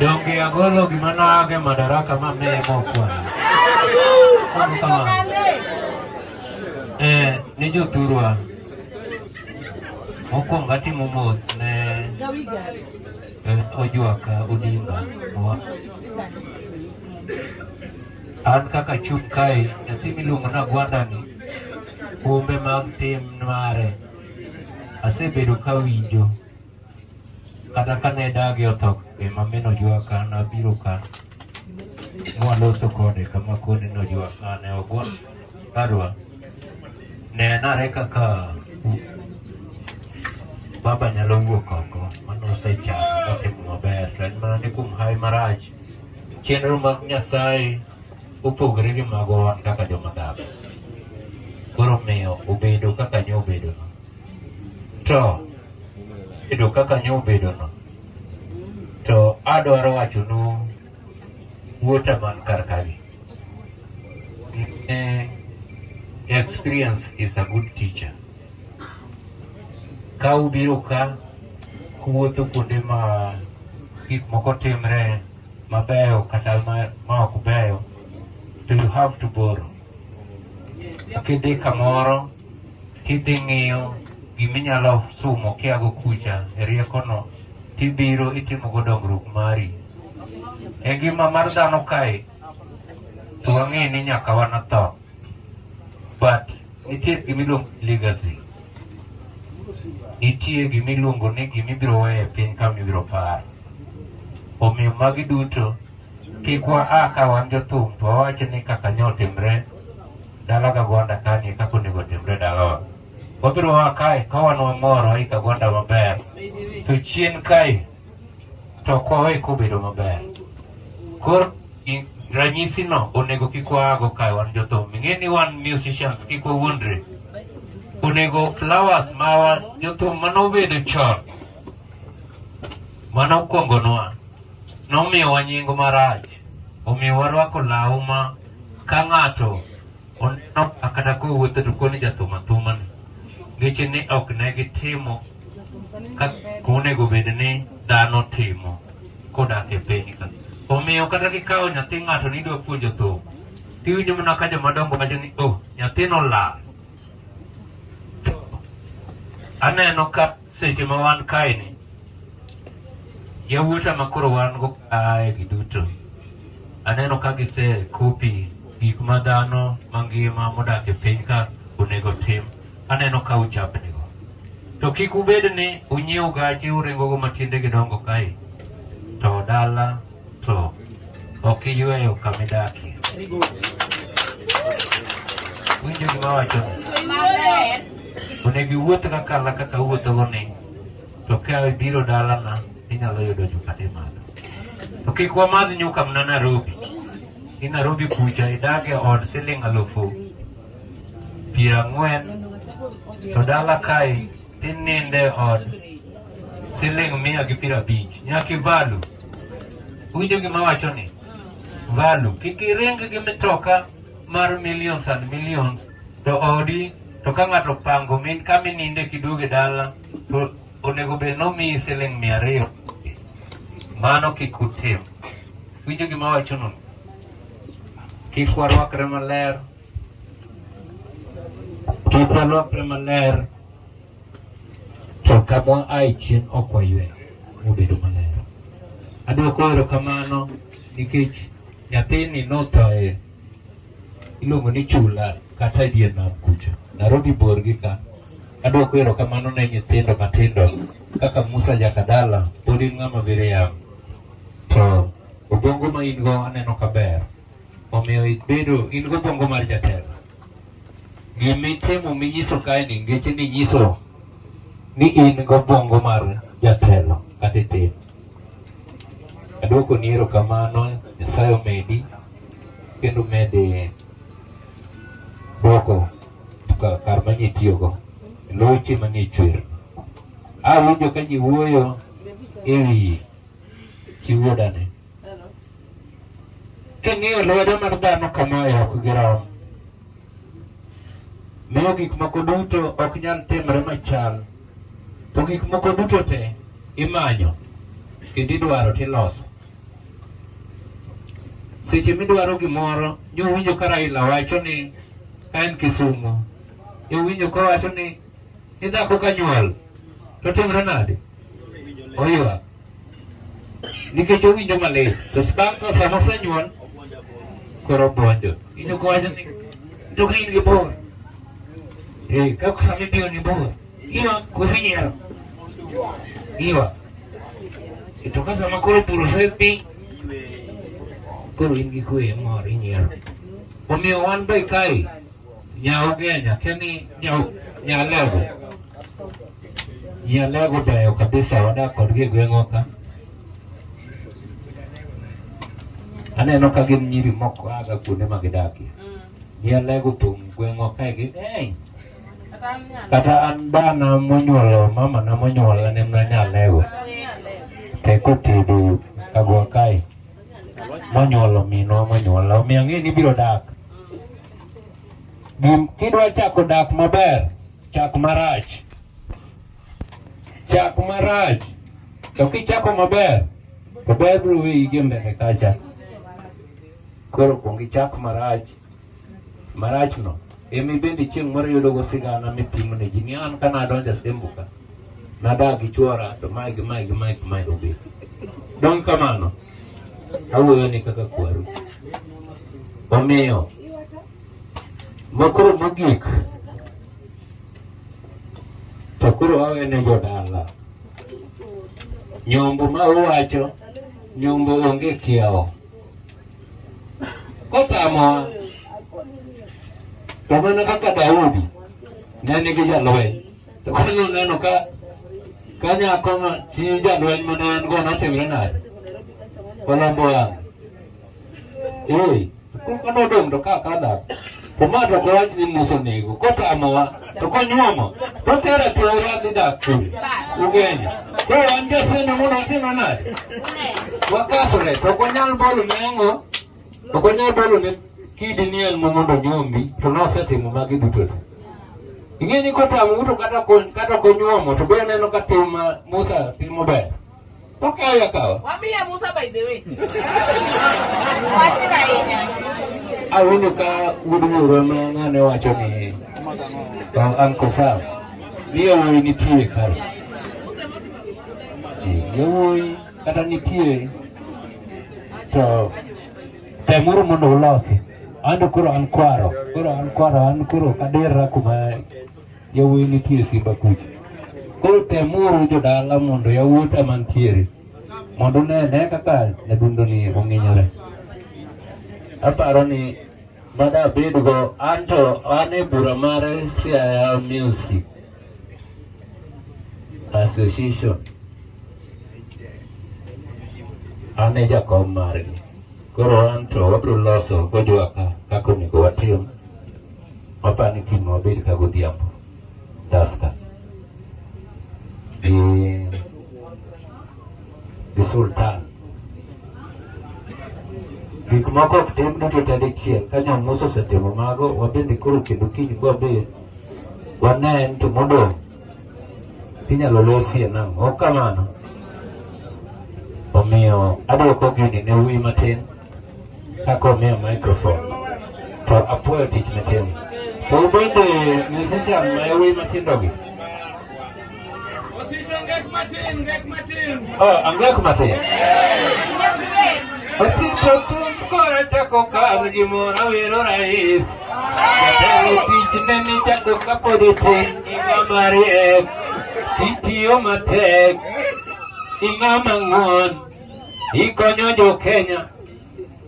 Donge agolo gima nage madaraka ma meye mokwa. Mano kama. Eh, ni joturwa. Mokwongo atimo mos ne eh, Ojwaka Odinga. An kaka chung' kae, nyathi miluongo ni Agwanda ni humbe mag tim mare asebedo ka winjo kata ka ne dagi otho be mameno jwa ka nabiro ka mwaloso kode kama kone nojwa ka ne ogwa kadwa ne nare kaka baba nyalo wuok oko mano osechano motimo maber to en mana ni kuom hawi marach Chenro mag Nyasaye opogore gi mago wan kaka joma dhano. Koro miyo obedo kaka nyo obedono. To bedo kaka nyo obedono, to adwaro wachonu wuota man kar kagi. Eh, experience is a good teacher. Ka ubiro ka kuwuotho kuonde ma gik moko timre mabeyo kata ma ok beyo to you have to borrow. Kidhi kamoro kidhi ng'iyo giminyalo sumo kiago kucha e riekono tibiro itimogo dongruok mari. E ngima mar dhano kae to wang'e ni nyaka wanatho. but nitie gima iluongo legacy nitie gima iluongo ni gima ibiro weyo e piny kama ibiro par omiyo magi duto kik wa a ka wan jothum to wawacho ni kaka nyo otimre dala ka gwanda kani kaka onego otimre dalawa wabiro wa kae ka wan wamor waika gwanda maber to chien kae to ok wawe kobedo maber. Koro ranyisino onego kik waago kae wan jothum. Ing'e ni wan musicians kik wawuondre. Onego flowers ma jothum mane obedo chon mane okuongonwa nomiyowa nying marach, omiyo warwako law ma ka ng'ato Oneno kata kowuotho to koni jathum athuma ni ngeche ni ok ne gitimo kaka onego bed ni dhano timo kodak e piny ka. Omiyo kata kikawo nyathi ng'ato ni idwa puonjo thum, tiwinjo mana ka joma dongo wacho ni oh, nyathino lal. To aneno ka Seche ma wan kae ni yawuota ma koro wan go kae gi duto aneno ka gise kopi gik ma dhano mangima modak e piny ka onego tim aneno ka uchapni go to kik ubed ni unyiew gache uringo go matiende gidongo kae to dala Floor. Ok iyweyo kama idakie. Winjo gima wacho. Onego iwuoth ka kala kaka wuothogo ni to ka ibiro dalana inyalo yudo nyuka ni madho. To kik wamadh nyuka mna Nairobi. Ni Nairobi kucha idage od siling alufu piero ang'wen to dala kae Tininde od siling mia gi piero abich nyaki valu. Winjo gima wacho ni valu kik iring gi mitoka mar millions and millions to odi to ka ng'ato pango min ka mininde kiduoge dala to onego bed nomiyi siling mia ariyo. Mano kik utim. Winjo gima wacho no. Kik warwakre maler. Kik walokre maler to kamwa ae chien ok waywe mobedo maler. Adwoko erokamano nikech nyathini nothoe iluongo ni chula kata e dier nam kucho Nairobi bor gi ka adwoko erokamano ne nyithindo matindo kaka Musa Jakadala pod in ng'ama biriang' to obongo ma in go aneno kaber Omiyo ibedo in gobongo mar jatelo. Gimitimo minyiso kae ni ngeche ni nyiso ni in gobongo mar jatelo kata itim. Aduoko ni erokamano Nyasaye omedi kendo mede duoko kar manye itiyogo loche manie chwer. Awinjo ka ji wuoyo e wi chi wuodane. King'iyo lwedo mar dhano kama e ok girom. Miyo gik moko duto ok nyal timre machal. To gik moko duto te imanyo kendo idwaro tiloso. Seche midwaro gimoro, nyo ka Raila wacho ni ka en Kisumu, nyo ka wacho ni idhako ka nyuol, to timre nade? Oywak. Nikech owinjo malit. To bang' ka sama osenyuol, koro obwonjo. Inyo kowacho ni, to ka in gi bor. Eh, ka sama ibiro ni bor, iwa kusinyiero. Iwa. To ka sama koro bur osedhi, koro in gi kwe mor inyiero. Omiyo wan be kae, nya ogenya, keni nya, nya level. Yale gudayo kabisa wadakod gi gweng'o ka. Aneno ka gin nyiri moko aga kuonde ma gidakie. Yale mm. guthung' gweng'o kae gi ng'eny. Kata an bana monyuolo mama na monyuola ne mna nyalego. Teko tedo kagwa kae. Monyuolo minwa monyuola. Omiyo ang'e ni biro dak. Kidwa chako dak maber, chak marach. Chak marach. To kichako maber, to ber biro weyi gi mbele kacha. Koro kuong ichak marach. Marachno, emi bende chieng' moro yudogo sigana mipimo ne ji ni an ka nadonjo Asembo ka. Nadak gi chwora to mae gi mae gi mae gi mae obet. Dong' kamano, awuoyo ni kaka kwaru. Omiyo, makoro mogik to koro awe ne jodala nyombo ma uwacho nyombo onge kiawo kotamowa to mana kaka Daudi ne nigi jalweny Koro neno ka ka nyako ma chi jalweny mane en go notimre nade? Olombo wang'. Ee, koko nodong' to ka kadhak. To ma to kowach ni Musa onego, kotamowa, to konyuomo, to tera tera adhi dak kure. Ugenya. Koro an jaseno mondo watimre nade? Wakasre, to ok wanyal bolo nyango. Ok onyal bolo ne kidi ni en mo mondo nyombi to nosetimo magi duto te. Ing'e ni kotamo uto kata kon kata konyuomo to be neno ka tim ma Musa timo ber. Okawe akawa. Wamiya Musa by the way. Wasira inya. Awinjo ka wuod wuoro ma ng'ane wacho ni to an kofam. Ni yawuoyi nitie kae. Yawuoyi Kata nitie to temuru mondo ulosi. Ando koro an kwaro, koro an kwaro, an koro kaderra kuma yawuoyi nitie Simba kucha. Koro temuru jodala mondo yawuot ema ntiere mondo unene kaka nyadundoni ong'inyore. Aparo ni mada abedgo an to an e bura mar Siaya Music Association an e jakom margi koro an to wabiro loso gojuaka kaka onego watim wapani timo wabed ka godhiambo dasta gi gi sultan gik moko ok tim duto tadichiel ka nyamusa osetimo mago wabende koro kendo kiny kwabed Wane en to modong' inyalo losie nang'o? Ok kamano. Omiyo adwoko gini ne wuyi matin kaka omiyo microphone to apuoyo tich matin. To ubende musician ma yawuyi matindogi Angek matin. Osito tumb kora chako kal gimoro wero rais. Jatelo tichne ni chako kapod itin ing'a mariek. Itiyo matek. Ing'a mang'won. Ikonyo jo Kenya.